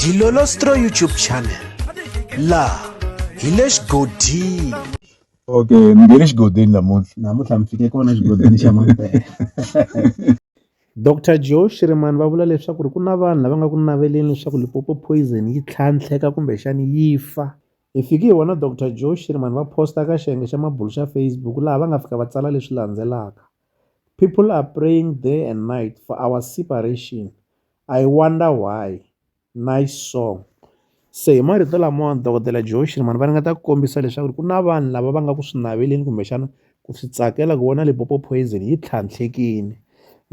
Dilolostro YouTube channel la hi le xigodini okay ni nge le xigodini namuntlha namuntlha mi fike kona xigodini xa mampela Dr Joe Shirimani va vula leswaku ri ku na vanhu lava nga ku naveleni leswaku Limpopo poison yi tlhantlheka kumbexani yi fa hi fiki hi vona Dr Joe Shirimani va posta ka xiyenge xa mabulu xa Facebook laha va nga fika va tsala leswi landzelaka People are praying day and night for our separation I wonder why nice song se hi marito lamawani dokodela Joe Shirimani va ringeta ku kombisa leswaku ri ku na vanhu lava va nga ku swi naveleni kumbexana ku swi tsakela ku vona Limpopo Poison yi tlhantlhekile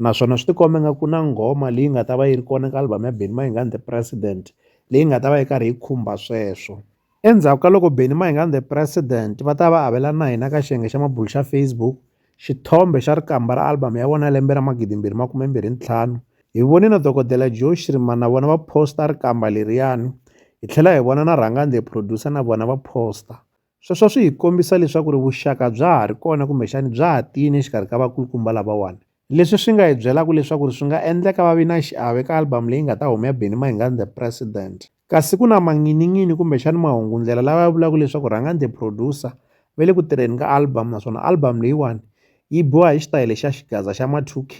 naswona swi tikomba nga ku na nghoma leyi nga ta va yi ri kona ka album ya Benny Mayengani The President leyi nga ta va yi karhi yi khumba sweswo. Endzhaku ka loko Benny Mayengani the President va ta va va avelana na hina ka xiyenge xa mabulo xa Facebook xithombe xa rikamba ra album ya vona ya lembe ra 2025, hi vone na Dokodela Joe Schriman na vona va posta rikamba leriyani, hi tlhela hi vona na Rhangani the Producer na vona va posta. Sweswo swi hi kombisa leswaku ri vuxaka bya ha ri kona kumbexani bya ha tiyini exikarhi ka vakulukumba lavawani, leswi swi nga hi byelaka leswaku ri swi nga endleka va vi na xiave ka album leyi nga ta huma ya Benny Mayengani the President. Kasi ku na manghininghini kumbexani mahungundlela lawa ya vulaka leswaku rhangani the producer va le ku tirheni ka album naswona album leyiwani yi biwa hi xitayele xa xigaza xa ma two K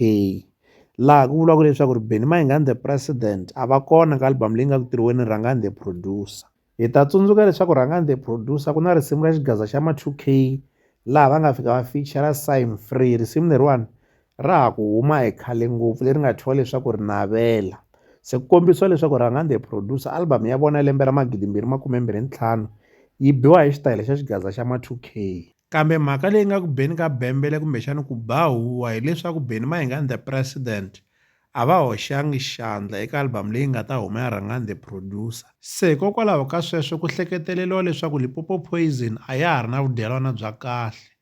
laha ku vuriwaka leswaku ri Benny Mayengani the president a va kona ka album leyi nga ku tirhiweni rhangani the producer hi ta tsundzuka leswaku rhangani the producer ku na risimu ra xigaza xa ma two K laha va nga fika va feature sign free risimu leriwani ra ha ku huma hi khale ngopfu leri nga thyiwa leswaku ri navela se ku kombisiwa leswaku rhangandi hi producer album ya vona ya lembe ra magidi mbirhi makume mbirhi ntlhanu yi biwa hi xitayele xa xigaza xa ma-two k kambe mhaka leyi nga ku beni ka bembele kumbexana ku ba huwa hileswaku beni mahingani the president a va hoxangi xandla eka album leyi nga ta huma ya rhangani the producer se hikokwalaho ka sweswo ku hleketeleriwa leswaku lipopo poison a ya ha ri na vudyelwana bya kahle